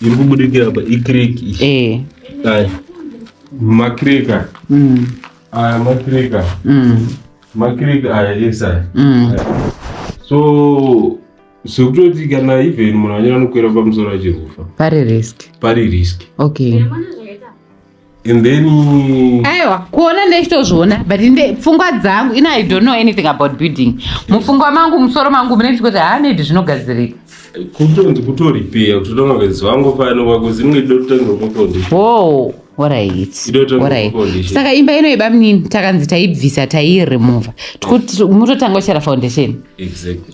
iri kubudikira apa ikiriki eh. aya makirika mm. aya makirika mm. makirika aya ese aya mm. so sekutoti kana even munhu anyanya nokwera pamusoro achirwufa pari risk pari risk okay and then aiwa kuona ndechitozviona but nde pfungwa dzangu ina i don't know anything about building mupfungwa mangu musoro mangu mune chikuti haa maybe zvinogadzirika kutonzi kutoripeya kuti toda mavezi vangu pano vakuzi mwe dototanga kukondi wo orit saka imba ino iba mnini takanzi taibvisa tairemova mutotanga uchera foundation exactly.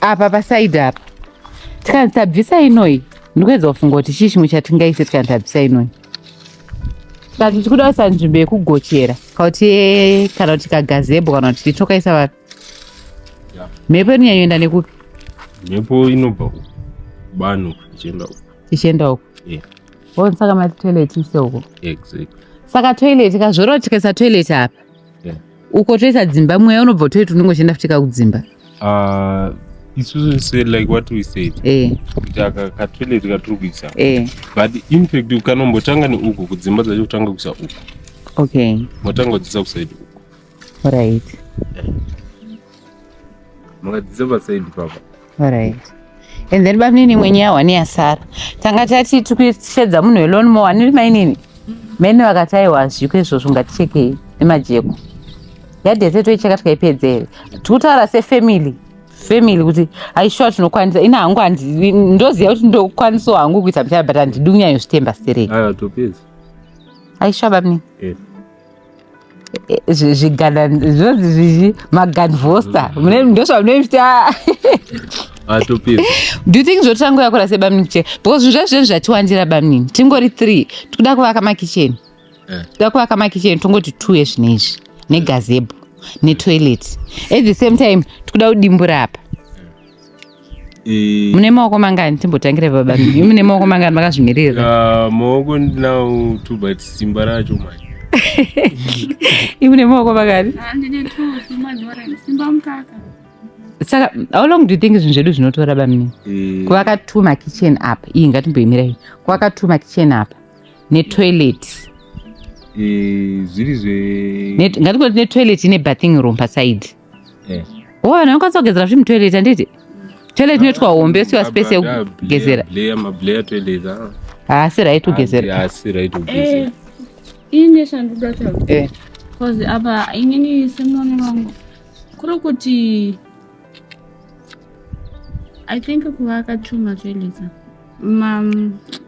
apa pasaidi apa tikanzi tabvisa inoi ndikuedza kufunga kuti chii chimwe chatingaise tikanzi tabvisa inoi tikati tichikuda kuisa nzvimbo yekugochera kauti eh, kana kuti kagazebo kana kuti titokaisa vapi mhepo inonyanyoenda nekupi mhepo inobva uku bani ichienda uku ichienda uku yeah. saka mati toilet ise uko exactly saka toilet kazvoroti tikaisa toilet apa yeah. uko toisa dzimba mweya unobva utoita unenge uchienda futi kakudzimba uh, isusu se like what we said eh. kuti yeah. aka katoilet katiri kuisa yeah. but infact ukanombotanga neuku kudzimba dzacho kutanga kuisa uku okay motanga kudzisa kusaidi uku right yeah. Makadzidzisa pasaidi papa. All right. And then bamunini mwenye yawa ni asara. Tanga tati tukushedza munhu elon mo aniri mainini. Mene vakati aiwa zviko izvozvo ngatichekei nemajeko. Yadete toicheka tikaipedzere. Tikutaura se family. family kuti aishuwa tinokwanisa ini hangu ndoziva kuti ndokwanisawo hangu kuita mchana but handidi kunyanya zvitemba stereki aishuwa babni yes. zvigana zvinonzi zvizvi maganvosta ndozvamunoita atopira do you think zvotanga yakura sebamnini kicheni because zvinhu zvacho zvinhu zvatiwandira bamnini tingori three tikuda kuvaka makicheni eh. tikuda kuvaka makicheni tongoti two ezvine izvi negazebo netoilet at the same time tikuda kudimbura apa mune maoko mangani timbotangire baba mimi mune maoko mangani makazvimirira ah, maoko ndinawo two but simba racho manje imune maoko mangani ah, saka how long do you think zvinhu zvedu zvinotora bamini eh. kuvaka two makitchen apa iyi ngatimboimirai kuvaka two makitchen apa netoilet eh, zviri zve ngatikoti netoilet ine bathing room paside Eh. Oh, vanhu vanokwanisa kugezera zvinhu toilet handiti? Toilet inoitwa hombe siwa space yekugezera. Bleya mableya toilet. Ah. Haasi right kugezera. Haasi right kugezera. Eh, ini shanduka chawo. Eh. Cause apa inini semoni wangu kuri kuti I think kuvaka too much toilet. Mam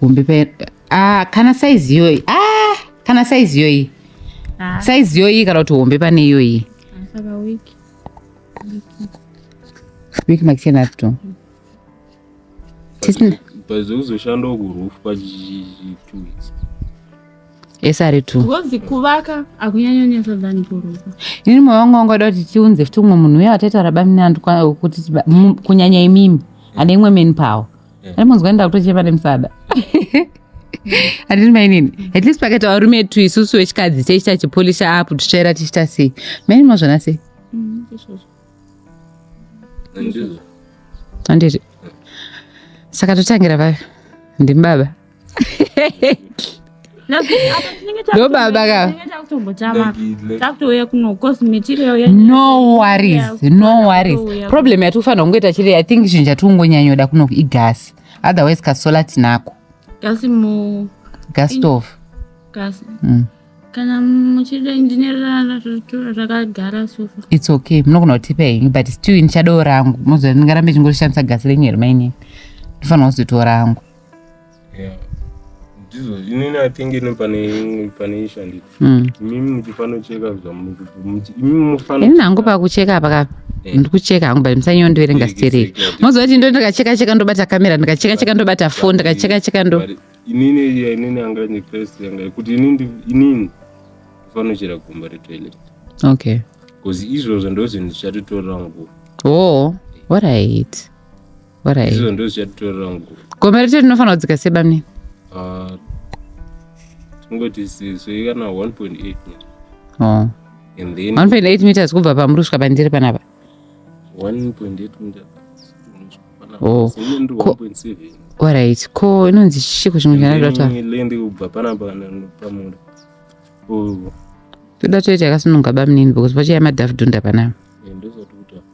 hombe pa ah, kana saizi iyoyi ah, kana saizi iyoyi ah. saizi iyoyi kana kuti hombe pane iyoyi wiki makichena to pazokuzoshandawo kurufu pa two weeks esari two ngozi kuvaka akunyanyonesa than kuruka ini moyo wangu wanga kuti tiunze futi umwe munhu uye wataitaura bamnandi kuti kunyanya imimi ane imwe meni pawo yeah. munzwa enda kutochema nemusada handiti mainini at least pakaita varume etu isusu vechikadzi teichita chipolisha apo tutsvaira tichita sei mainini mazvona sei mm, handiti saka totangira papi ndimubaba ndo baba ka no worries no worries problem yati kufanira kungoita chiri i think chinhu chati kungonyanyoda kuno igasi otherwise kasola tinako gasi mu gas stove gasi mm. kana muchida ndinerara zvitura zvakagara sofa its okay munogona kutipa henyu but still ndichadoo rangu mozoa ndingarambe chingorishandisa gasi renyu here mainini ndifanira kuzotora rangu ndizvo inini i think ino pane pane ishu handiti mm. imimi muchifanocheka zvamuchimimi mufano ini hangu pakucheka paka eh. ndikucheka hangu but musanyewo ndiverenga stereki moziva kuti ndo ndikacheka cheka ndobata kamera ndikacheka cheka ndobata foni ndikacheka cheka ndo inini ya inini anga ni first yanga yekuti inini inini ndifanochera gumba retoilet okay bcause izvozvo ndozvinhu zvichatotora nguva oh what i hate izvozvo ndozvichatitorera nguva gomba rete rinofanira kudzika sei bamnini ah, tingoti sei kana 1.8 oh. and then 1.8 meters kubva pamuri kusvika pandiri panapa 1.8 meters oh. orit ko inonzi chiko chimwe chanadataende kubva panapa pamuri toda toita yakasununga bamnini because pachaya madhafudhunda panapa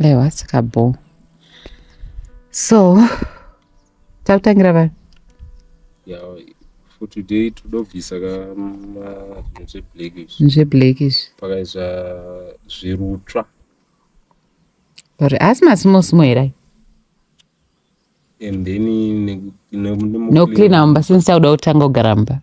Ewa saka bho. So takutangira vanhu. Yeah, for today todobvisa ka zve blackish. Zve blackish. Pakaisa zvirutsva. Or asi masimo simo here ayi? And then no clean amba since tauda kutanga kugara mba.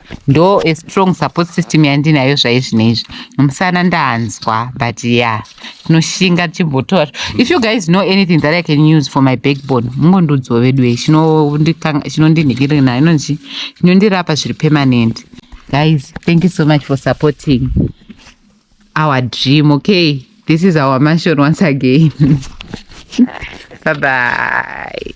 ndo a strong support system yandinayo zvaizvinoizvi musana ndanzwa but ya yeah. tinoshinga tichimbotora if you guys know anything that i can use for my backbone mungondudzwa vedu e chinondinhikirira nayo inonzi chinondirapa zviri permanent guys thank you so much for supporting our dream okay this is our mansion once again bye bye